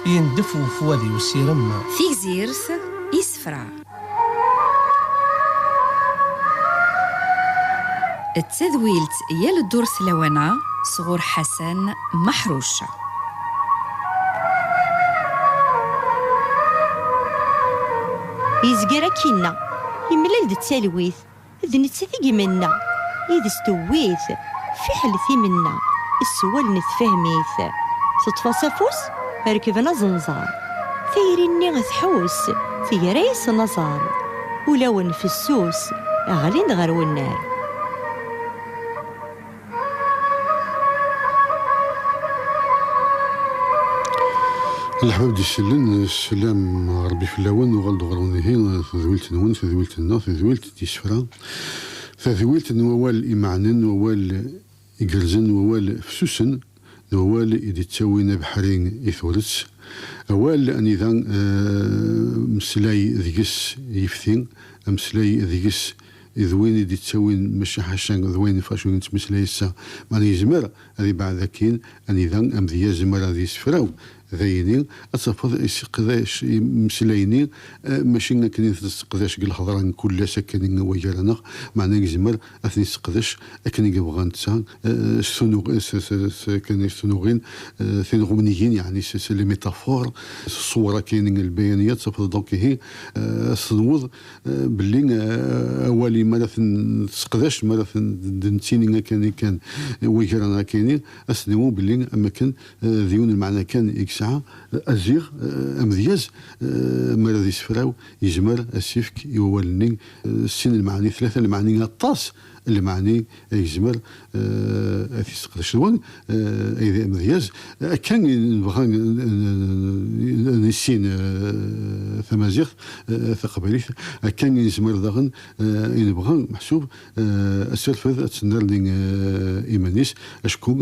Yendef ufwad-iw s irem. Tigzirt isefra. D tadwilt yal ddurt lawan-a sɣur Ḥasan Maḥruc. Yezger akkinna, yemlal-d d talwit. D nettat i yimenna, yid-s tewwi-t, fiḥel timenna, s wallen tefhem-it. Teṭṭef-as afus, rekben aẓenẓar, tayri-nni tḥus, tegra-yasen aẓar, ulawen fessus, ɣlin-d ɣer unnar. Lḥmam di sellen, sselam Rebbi fell-awen, uɣal-d ɣer unihi, tedwilt-nwen, tedwilt-nneɣ, tedwilt d isefra, tadwilt n wawal imeɛnen, wawal igerrzen, wawal fessusen. d wawal i d-ittawin abeḥri i turet, awal anida meslay deg-s yifti, ameslay deg-s d win i d-ittawin maca ḥaca d wayen iffeɣ cwi nettmeslay ass-a, mana yezmer ad ibeɛɛed akkin anida amedyaz mi ara ad yessefraw dayeni, ad tafeḍ iseqdac imeslay-nni maci akken i t-nesseqdac deg lhedra n kul ass akken i wagar-aneɣ, mana yezmer ad ten-yesseqdec akken i yebɣa netta, s tunuɣin tinɣumnigin, yeɛni s les métaphores, s ṣṣwur akkin lbayaniya, ttafeḍ donc ihi ad tenweḍ belli awali mi ara ten-tesseqdac, mi ara ten-d-nettini akkin kan wagra akkin-i, ad s-niwi belli am wakken d yiwen lmeɛna kan i yesɛa, aziɣ amedyaz mi ara d-yessefraw, Yezmer ad s-ifk i wawal-nni sin n lmeɛni, tlata n lmeɛni, aṭas n lmeɛni ay yezmer ad t-yesseqdec. D wan ay d amedyaz akka ay nebɣa ad nissin tamaziɣt taqbaylit, akka ay nezmer daɣen ay nebɣa meḥsub Asirfed ad tennerni iman-is, acku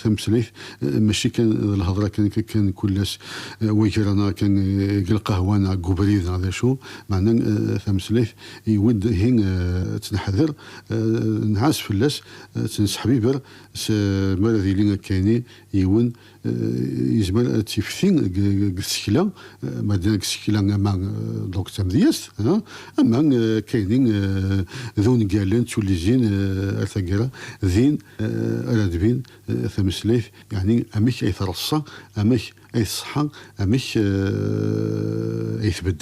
tameslayt mačči kan d lhedra kan kan kul ass wagra neɣ kan deg lqahwa neɣ deg ubrid neɣ d acu, meɛna tameslayt i wid ihi ad tt-neḥder, nɛas fell-as, ad tt-nesseḥbiber s mi ara d-yili akka ini yiwen yezmer ad tifti deg tsekla, ma deg tsekla ama donc d tamedyazt, ama kayni d ungalen d tullizin ar taggara, din ara d-tbin tameslayt, yeɛni amek ay treṣṣa, amek ay tṣeḥḥa, amek ay tbedd.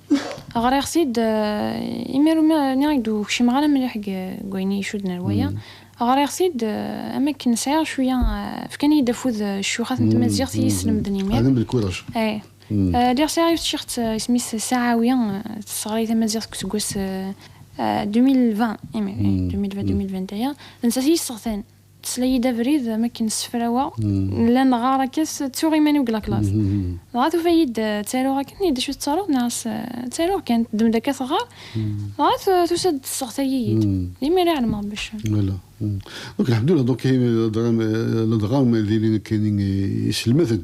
Ɣriɣ-t-id imi ur nniɣ-ak-d ur kcimeɣ ara mliḥ deg wayen i icudden ar waya. Ɣriɣ-t-id am wakken sɛiɣ cwiya, fkan-iyi-d afud ccuxat n tmaziɣt i yi-slemden imir. Ay. Lliɣ sɛiɣ yiwet tciɣt isem-is Saɛawi, tesseɣlay tamaziɣt deg useggas 2020, imir, ay, 2020, 2020 aya, d nettat i yi-yesseɣtan. Tesla-yi-d abrid am akken ssefraweɣ, nella neɣɣar akka s ttuɣ iman-iw deg laklaṣ. Dɣa tufa-yi-d ttaruɣ akken, ihi d acu tettaruḍ neɣ s ttaruɣ kan, teddem-d akka teɣɣar, dɣa tusa-d tesseɣta-yi-d, d imir i ɛelmeɣ bac. Wala. Duk lḥemdullah, duk ladɣa ma d ilin nekkini iselmaden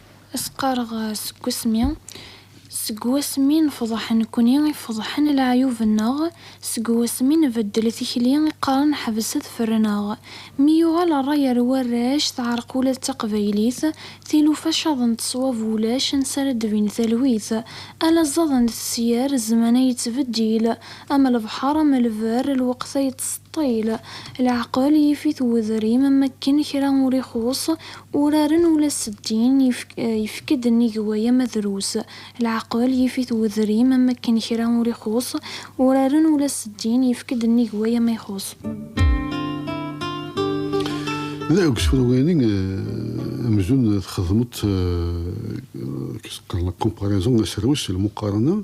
Ad s-qqareɣ seg wasmi, seg wasmi nefḍeḥ nekni i feḍḥen leɛyub-nneɣ, seg wasmi nbeddel tikli i qqaren ḥbes ad ferren-aɣ. Mi yuɣal rray ar warrac, teɛreq ula d taqbaylit, tilufa caḍent ṣwab ulac ansi ara d-tbin talwit. Ala ẓẓaden d tefyar, zzmana yettbeddil, am lebḥer am lberr, lweqt-a yettseṭṭil. Leɛqel yif-it wedrim, am wakken kra ur ixuṣ, Uraren ula s ddin, yefk-d nnig waya ma drus. Leɛqel, yif-it wedrim, am wakken kra ur ixuṣṣ. Uraren ula s ddin, yefk-d nnig waya ma ixuṣṣ. Deg usefru-agi amzun txedmeḍ, qu'est-ce que qqaren là, comparaison, aserwes, lmuqarana,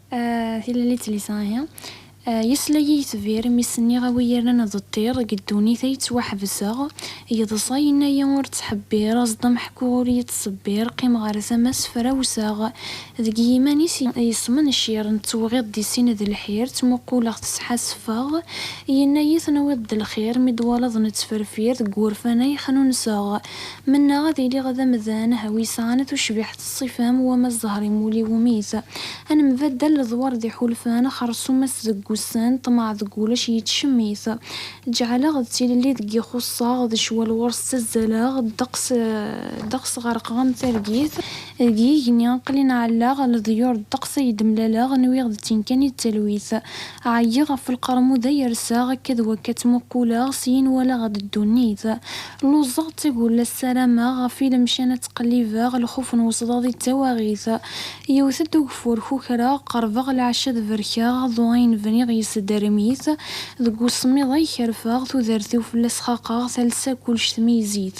Tilelit lisahi, Yesla-yi yetbir imi s-nniɣ a wi yernan d ṭṭir deg ddunit ay ttwaḥebseɣ, yeḍsa yenna-yi ur ttḥebbir, aẓ-d a meḥku ur yi-ttṣebbir, qqim ɣer tama ssefrawseɣ, deg yiman-is yesmencir, nettewɣiḍ di sin d lḥir, ttmuquleɣ-t sḥassfeɣ, yenna-yi tenwiḍ-d lxir, mi d-twalaḍ nettferfir, deg wurfan ay xnunseɣ. Mennaɣ ad iliɣ d amdan wisan tucbiḥt ṣṣifa-m wama zzher-im wul-iwumi-s a nembaddal ledwar d iḥulfan xerṣum-as deg wussan ṭṭmeɛ deg wulac yettcemmit ǧǧɛaleɣ d tilelli deg ixuṣṣaɣ d ccwal ɣur-s ttazzaleɣ ddeqs ddeqs ɣerqeɣ am targit deg yigenni aql-i nɛallaɣ leḍyur ddeqs ay d-mlaleɣ nwiɣ d tin kan i d talwit ɛyiɣ ɣef lqermud ay rseɣ akka d wakka ttmuqquleɣ syin walaɣ-d ddunit Luẓeɣ d tagulla ssarameɣ ɣef i lemcan ad ttqellibeɣ lxuf n wesḍaḍ i d tawaɣit yewwet-d ugeffur kukreɣ qerbeɣ lɛecc ad berkeɣ aḍu ayen bniɣ yesderrem-it deg usemmiḍ ay kerfeɣ tudert-iw fell-as xaqeɣ talsa kullec tmeyzit.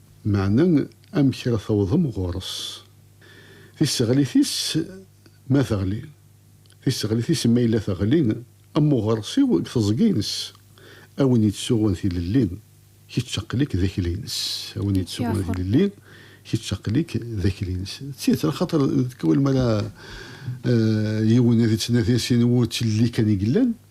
Meɛna amek ara tawḍem ɣur-s? Tiseɣlit-is ma teɣli. Tiseɣlit-is ma yella teɣli, am uɣersiw deg teẓgi-ines. A win yettsuɣun tilelli, kečč aql-ik d akli-ines. A win yettsuɣun tilelli, kečč aql-ik d akli-ines. D tidet, axaṭer tikwal mi ara yiwen ad ittnadi sin wutlelli kan i yellan.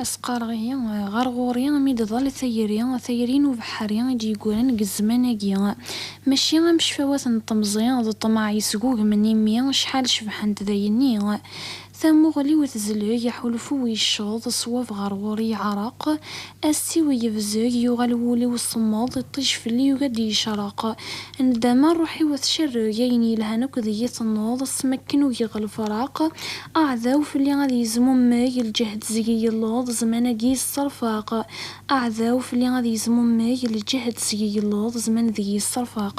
A s-qqareɣ ihi, ɣer ɣur-i mi d-ḍall tayri, tayri n ubeḥri i d-yeggran deg zzman-agi. Mačči am cfawat n temẓi d ṭṭmeɛ yesgugmen imi acḥal cebḥent dayenni. Tamuɣli-w tezleg, aḥulfu-w yecceḍ, ṣṣwab ɣer ɣur-i yeɛreq, assi-w yebzeg, yuɣal wul-iw semmeḍ, iṭij fell-i yugi ad d-yecreq. Nndama, rruḥ-iw a tcerreg, ayen yelhan akk deg-i tennuḍ, s mekken ugiɣ lefraq, aɛdaw fell-i ad yezmummeg, lǧehd seg-i yelluḍ, zzman-agi yesserfaq, aɛdaw fell-i ad yezmummeg, lǧehd seg-i yelluḍ, zzman deg-i yesserfaq.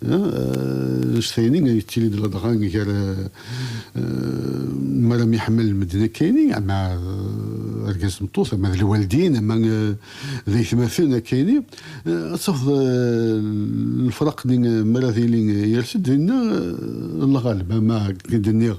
Ulac tayni yettili-d ladɣa gar mi ara myeḥmalen medden akkayni, ama argaz d tmeṭṭut, ama d lwaldin, ama d aytmaten akkayni. Ad tafeḍ lefraq-nni mi ara d-yili yers-d dinna lɣaleb, ama akken i d-nniɣ,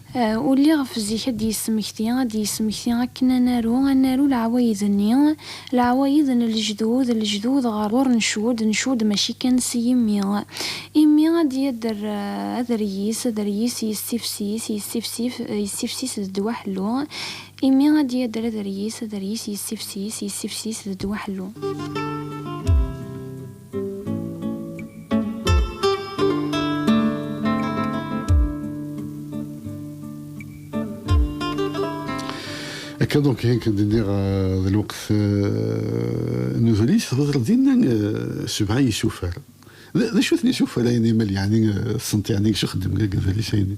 Ulli ɣef zik ad d-yesmekti, ad d-yesmekti akken ad naru, ad naru leɛwayed-nni, leɛwayed n lejdud, lejdud ɣer ɣur ncud, ncud mačči kan s yimi. Imi ad d-yadder adreyis, adreyis yessifsis, yessifsif, yessifsis d ddwa ḥellu, imi ad d-yadder adreyis, adreyis yessifsis, yessifsis d ddwa ḥellu. Akka donc ayen kan d-nniɣ d lweqt n udlis tɣedreḍ din sebɛa yisufar d acu-ten yisufar-ayni mal yeɛni tessneḍ yeɛni acu xeddmen deg udlis-ayni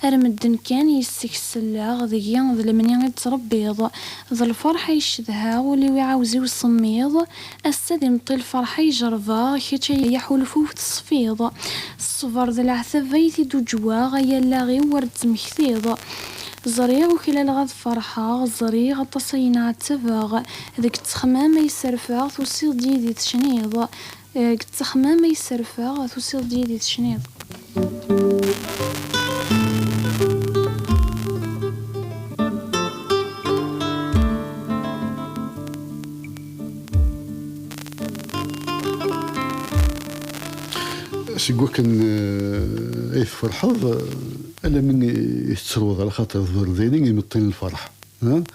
Ar medden kan yis-k selleɣ, deg-i d lemni i d-tṛebbiḍ. D lferḥ ay cedhaɣ, ul-iw iɛawez-iw semmiḍ. Ass-a d imeṭṭi lferḥ ay jerbeɣ, kečč ay aḥulfu-w teṣfiḍ. Ṣṣber d leɛtab ay t-id-uǧǧweɣ, ay allaɣ-iw wer d-temmektiḍ. Ẓriɣ uklaleɣ ad ferḥeɣ, ẓriɣ aṭas ay nɛettabeɣ. Deg ttexmam ay sserfeɣ, tusiḍ-d yid-i tecniḍ. Deg ttexmam ay sserfeɣ, tusiḍ-d yid-i tecniḍ. Seg wakken ay tferḥeḍ, alammi i tettruḍ, ala xaṭer d berdin i imeṭṭi n lferḥ.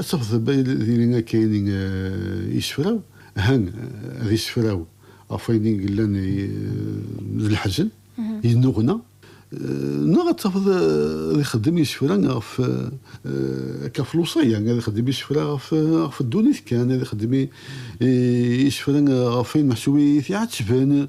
Asexdeb ay diri akka ayen i yessefraw, han ad yessefraw ɣef wayen i yellan d leḥzen, yennuɣna, neɣ ad tafeḍ ad ixeddem isefra ɣef, akka ɣef lewṣaya, ad ixeddem isefra ɣef ddunit kan, ad ixeddem isefra ɣef wayen meḥsub i t-iɛettben.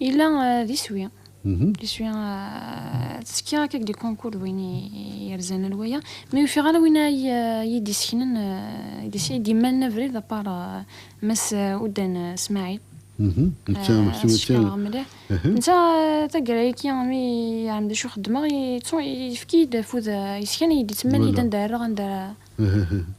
Yella d iswi. Mhm. Iswi eh, ttekki akka deg konkur d win yerzan al waya. Ma yufiɣ ala win ay eh, iyi-d-iseknen, eh, ay-d-yemmalen abrid, apar Mass Udan Smaɛil. Mhm. As-cekreɣ mliḥ. Mhm. Netta taggara-agi mi yeɛlem d acu xeddmeɣ, yefk-iyi-d afud yeskan, iyi-d-ittemmal-iyi-d anda ara rreɣ, anda ara...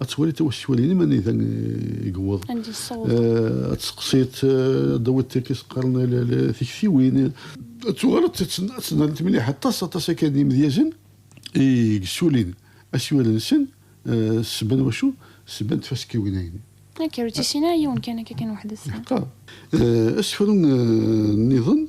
ad twali tawasifalin iman ida yewweḍ ad tseqsiḍ ad tawiḍ tirkis qqaren tiktiwin ad tuɣal ad tnadimt mliḥ aṭas aṭas akka n yimedyazen i yessulin asiwel-nsen ssebba n wacu ssebba n tfaskiwin-ayin Akka, ur tt-issin ara yiwen kan akka kan weḥd-s. Asefru niḍen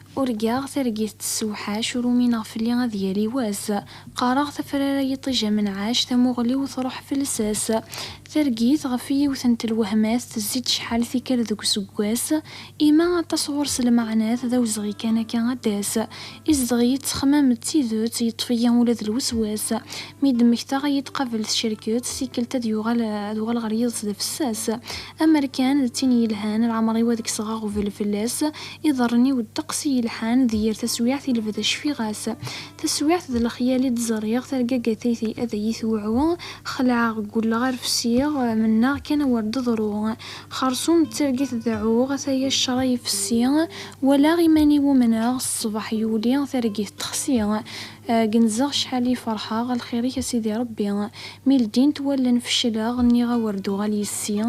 Urgaɣ targit tessewḥac, ur umineɣ fell-i ad yali wass. Qqareɣ tafrara yiṭij amenɛac, tamuɣli-w truḥ fell-s-as. Targit, ɣef yiwet n telwehmat, tezzi-d cḥal tikkal deg useggas, ima aṭas ɣur-s lmeɛnat, d awezɣi kan akka ad d-tas. Izedɣ-iyi ttexmam d tidet, yeṭṭef-iyi ula d lweswas. Mi d-mmektaɣ ad yi-d-qabel tcerket, tikkelt ad yuɣal ad uɣaleɣ ar yiḍes d afessas. Amer kan d tin yelhan, leɛmer-iw ad kkseɣ aɣbel fell-as, Iḍarren-iw ddeqs i yelḥan, d yir taswiɛt i lebda cfiɣ-as. Taswiɛt d lexyal i d-ẓriɣ, targa gatayt-i ad iyi-tewɛu. Xelɛeɣ, ggulleɣ, rfsiɣ, mennaɣ kan awer d-teḍru. Xersum d targit deɛɛuɣ, ataya ccṛa ifessi. Walaɣ iman-iw umneɣ, ṣṣbeḥ yuli, targit texsi. Genzeɣ cḥal i ferḥeɣ, a lxir-ik a Sidi Rebbi. Mi ldint wallen fecleɣ, nniɣ a wer d-uɣal yes-i.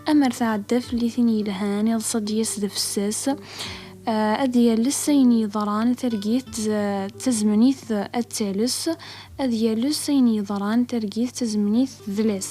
A mer tɛedda fell-i tin yelhan, iḍes ad d-yas d afessas, ad d-yales ayen yeḍran, targit d tazemnit ad d-tales, ad yales ayen yeḍran, targit d tazemnit d tedlas.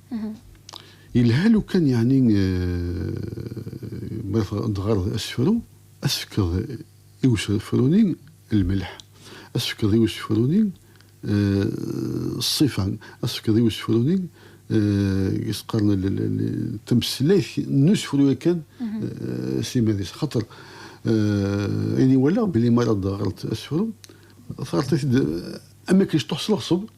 Yelha lukan yeɛni ma tɣareḍ asefru, ad tefkeḍ i usefru-nni lmelḥ, ad tefkeḍ i usefru-nni ṣṣifa, ad tefkeḍ i usefru-nni i s-qqaren tameslayt n usefru yakan s iman-is. Axaṭer ayen i walaɣ belli mi ara d-teɣreḍ asefru, teɣreḍ-it-id am wakken iceṭṭuḥ s leɣṣeb.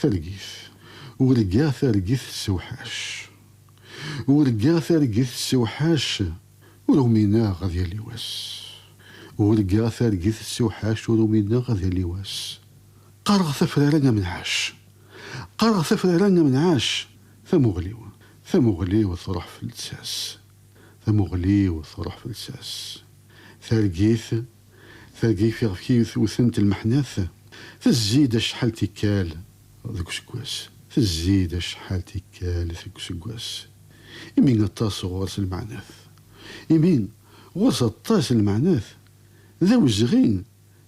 Targit. Urgaɣ targit tessewḥac. Urgaɣ targit tessewḥac Ur umineɣ ad yali wass. Urgaɣ targit tessewḥac Ur umineɣ ad yali wass. Qqareɣ tafrara am nɛac. Qqareɣ tafrara am nɛac Tamuɣli-w, tamuɣli-w Truḥ fell-s ass. Tamuɣli-w truḥ fell-as. Targit, targit iɣef iyi-tewtent lmeḥnat, tezzi-d acḥal tikkal deg useggas, tezzi-d acḥal tikkal deg useggas, imi aṭas ɣur-s lmeɛnat, imi ɣur-s aṭas lmeɛnat, d awezɣi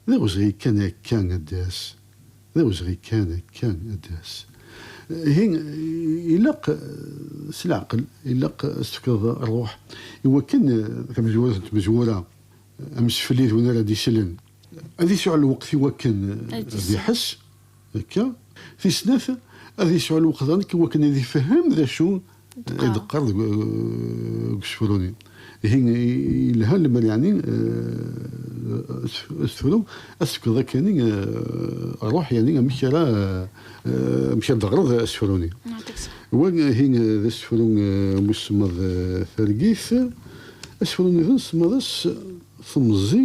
D awezɣi kan akka ad d-tas, d awezɣi kan akka ad d-tas. Ihi ilaq s leɛqel, ilaq ad s-tefkeḍ rruḥ i wakken tamezwarut n tmezwura, amseflid win ara d-isellen, ad yesɛu lweqt i wakken ad iḥess. Akka, tis snat, ad yesɛu lweqda nek wakken ad ifehhem d acu i d-qqar deg usefru-nni. Ihi, yelha lemmer yeɛni asefru ad t-tefkeḍ akani ṛuḥ, yeɛni amek ara amek ara d-teɣreḍ asefru-nni. Wa ihi d asefru n usemmaḍ Targit. Asefru-nniḍen semmaḍ-as Temẓi.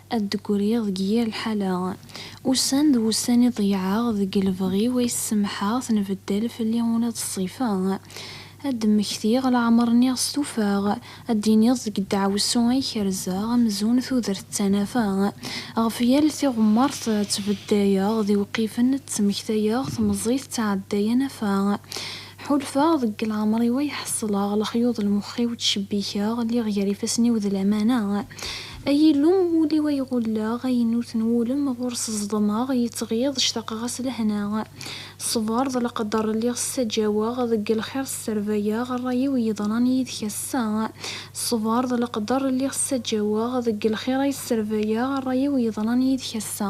Ad d-griɣ deg yir lḥala. Ussan d wussan i ḍeyyɛeɣ deg lebɣi-w ay s-semḥeɣ tenbeddal fell-i ula d ṣṣifa. Ad d-mmektiɣ leɛmer nniɣ stufaɣ. Ad d-iniḍ deg ddeɛwessu ay kerzeɣ amzun tudert d tanafa. Ɣef yal tiɣemmert ttbeddayeɣ d iwqifen ttmektayeɣ temẓi tettɛedday anafa. Ḥulfaɣ deg leɛmer-iw ay ḥeṣleɣ lexyuḍ lmex-iw ttcebbikeɣ lliɣ gar ifassen-iw d lamana Ay Illu ul-iw ay ɣulleɣ ay inut n wulem ɣur-s ẓedmeɣ yettɣiḍ ctaqeɣ-as lehna Ṣṣber d leqder lliɣ ssaǧaweɣ deg lxir sserbayeɣ rray-iw yeḍran yid-k ass-a Ṣṣber d leqder lliɣ ssaǧaweɣ deg lxir ay sserbayeɣ rray-iw yeḍran yid-k ass-a.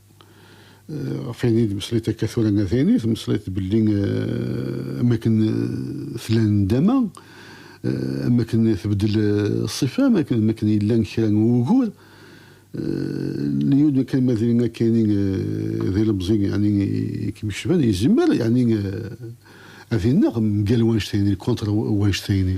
ɣef ayen i d-meslayt akka tura a tayni, tmeslayt belli am akken tella nndama, am akken tbeddel ṣṣifa, am akken yella kra n wugur, lyud kan ma d akeini d ilemẓi yeɛni i kem-yecban, yezmer yeɛni ad ineɣ mgal wanect-a yeɛni, contre wanect-a yeɛni.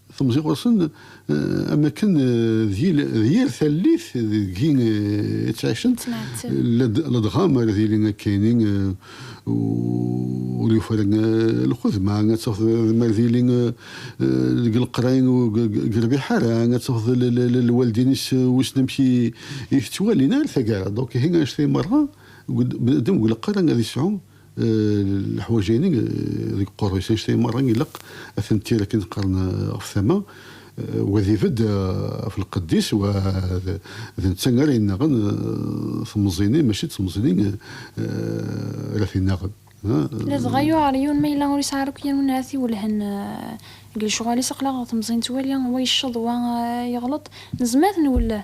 Temẓi ɣur-sen am akken d yir tallit deg-i i ttɛicen, ladɣa m'ara d-yili akkayni ur yufi ara lxuz, ma ad tafeḍ m'ara d-yili deg leqray ur yerbiḥ ara, ad tafeḍ lwaldin-is wissen amek i t-ttwalin, ar taggara, donc ihi annect-a merra, bnadem deg leqray ad yesɛu. leḥwaǧ-agi deg uqerru-is, anect-agi merra ilaq ad ten-tir akken qqaren ɣef tama, wa ad ibedd ɣef lqedd-is, wa d netta ara yennaɣen temẓi-nni mačči d temẓi-nni ara t-innaɣen. Ladɣa yuɛer yiwen ma yella ur yesɛi ara akk yir win ara t-iwellhen deg lecɣal-is, aql-aɣ temẓi nettwali wa yecceḍ wa yeɣleḍ, nezmer ad t-nwelleh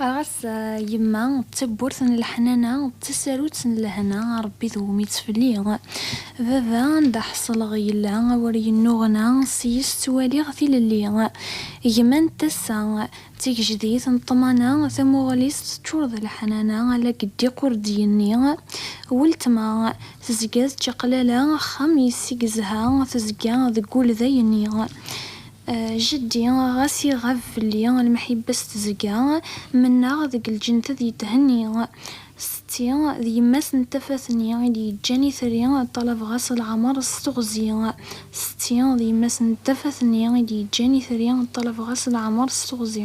Qqareɣ-as yemma d tawwurt n leḥnana, d tasarut n lehna, a Rebbi dewwem ittfeli. Baba anda ḥesleɣ yella awer yennuɣna, seg-s ttwaliɣ tilelli. Gma n tassa, d tigejdit n ṭṭmana, tamuɣli-s teččur d leḥnana, ala deg ddiq ur d-yenni. Weltma, tezga d čaqlala, axxam yessig zha, tezga deg wul d ayenni. Jeddi, ɣas iɣab fell-i lemḥibba s tezga, mennaɣ deg lǧent ad yethenni. Setti, d yemma-s n tafat-nni i d-yeǧǧan itri, ṭṭalabeɣ-as leɛmer s teɣzi. Setti, d yemma-s n tafat-nni i d-yeǧǧan itri, ṭṭalabeɣ-as leɛmer s teɣzi.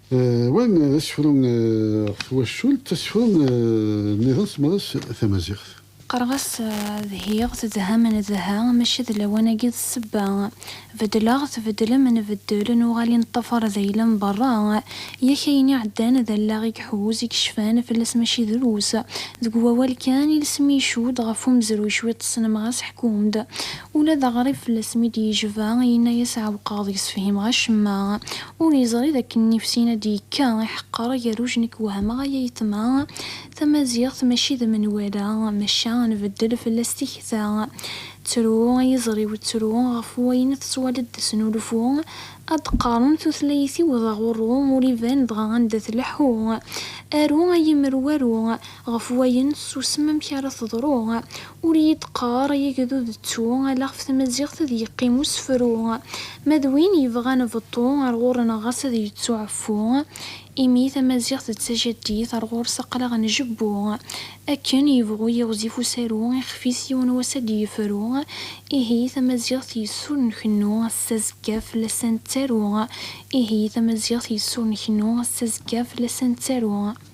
Wa d asefru ɣef twacult, asefru nniḍen s tmaḍa-s tamaziɣt. Qqareɣ-as dhiɣ, tedhem, nedha, maca d lawan-agi d ssebba. Beddleɣ, tbeddlem, nbeddel, nuɣal i neṭṭafaṛ d ayla n beṛṛa. Yak ayen iɛeddan d allaɣ i iḥuz, i icfan fell-as mačči drus. Deg wawal kan, ilsem icudd ɣef umezruy cwiṭ ssnemeɣ-as ḥkum-d. Ula d aɣrib fell-as mi d-yejba, yenna-yas ɛewqeɣ deg-s fhimeɣ acemma. Ur yeẓri d akken nnif-sin ad d-yekka iḥeqqer agerruj nekk wehmeɣ aya yeṭma tamaziɣt mačči d menwala maca ad nbeddel fell-as tikta ttru ay iẓri-w ttru ɣef wayen tettwaliḍ d asnulfu ad d-qqaren tutlayt-iw d aɣurru ur iban dɣa anda tleḥḥu aru ay imru aru Ɣef wayen susem amek ara teḍru. Ur iyi d qqar ay agdud ttu ala ɣef tmaziɣt ad yeqqim usefru. Ma d win yebɣan beṭṭu ar ɣur-neɣ ɣas ad yettu ɛeffu. Imi tamaziɣt d tajaddit ar ɣur-s aqlaɣ njebbu. Akken yebɣu yiɣzif usaru ixef-is yiwen wass ad d-yefru. Ihi tamaziɣt yes-s ur nkennu ass azekka fell-as ad nettaru. Ihi tamaziɣt yes-s ur nkennu ass azekka fell-as ad nettaru.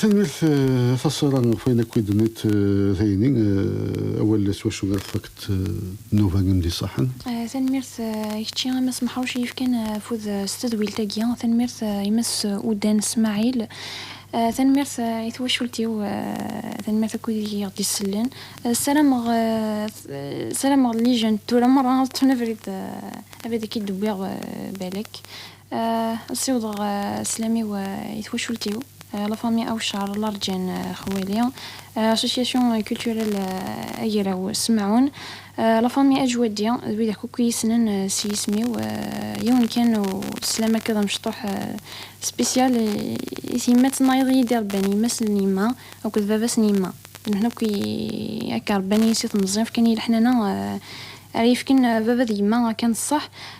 Tanemmirt a Taṣṣira ɣef wayen akk i d-tenniḍ tayni, awal s wacu ara tfakkeḍ nnuba im d-iṣaḥen. Tanemmirt i kečči a Mass Meḥṛuc i yefkan afud s tedwilt-agi, tanemmirt i Mass Udan Smaɛil, tanemmirt i twacult-iw, tanemmirt akk wid i ɣ-d-isellen. Ssarameɣ ssarameɣ llija n tura meṛṛa ad ṭṭfen abrid abrid akka i d-wwiɣ balak. Siwḍeɣ sslam-iw i twacult-iw, la famille Awcar, la rǧan xwali, Association culturelle Agraw Semɛun, la famille Ajwaddi, d widak akk i yi-ssnen s yisem-iw, yiwen kan n sslam akka d amecṭuḥ spécial i tyemmat-nnayeḍ i yi-d-irebban yemma-s n yemma akked baba-s n yemma, d nutni akk i akka rebban-iyi si temẓi, fkan-iyi leḥnana ara yi-fken baba d yemma akken ṣṣeḥ.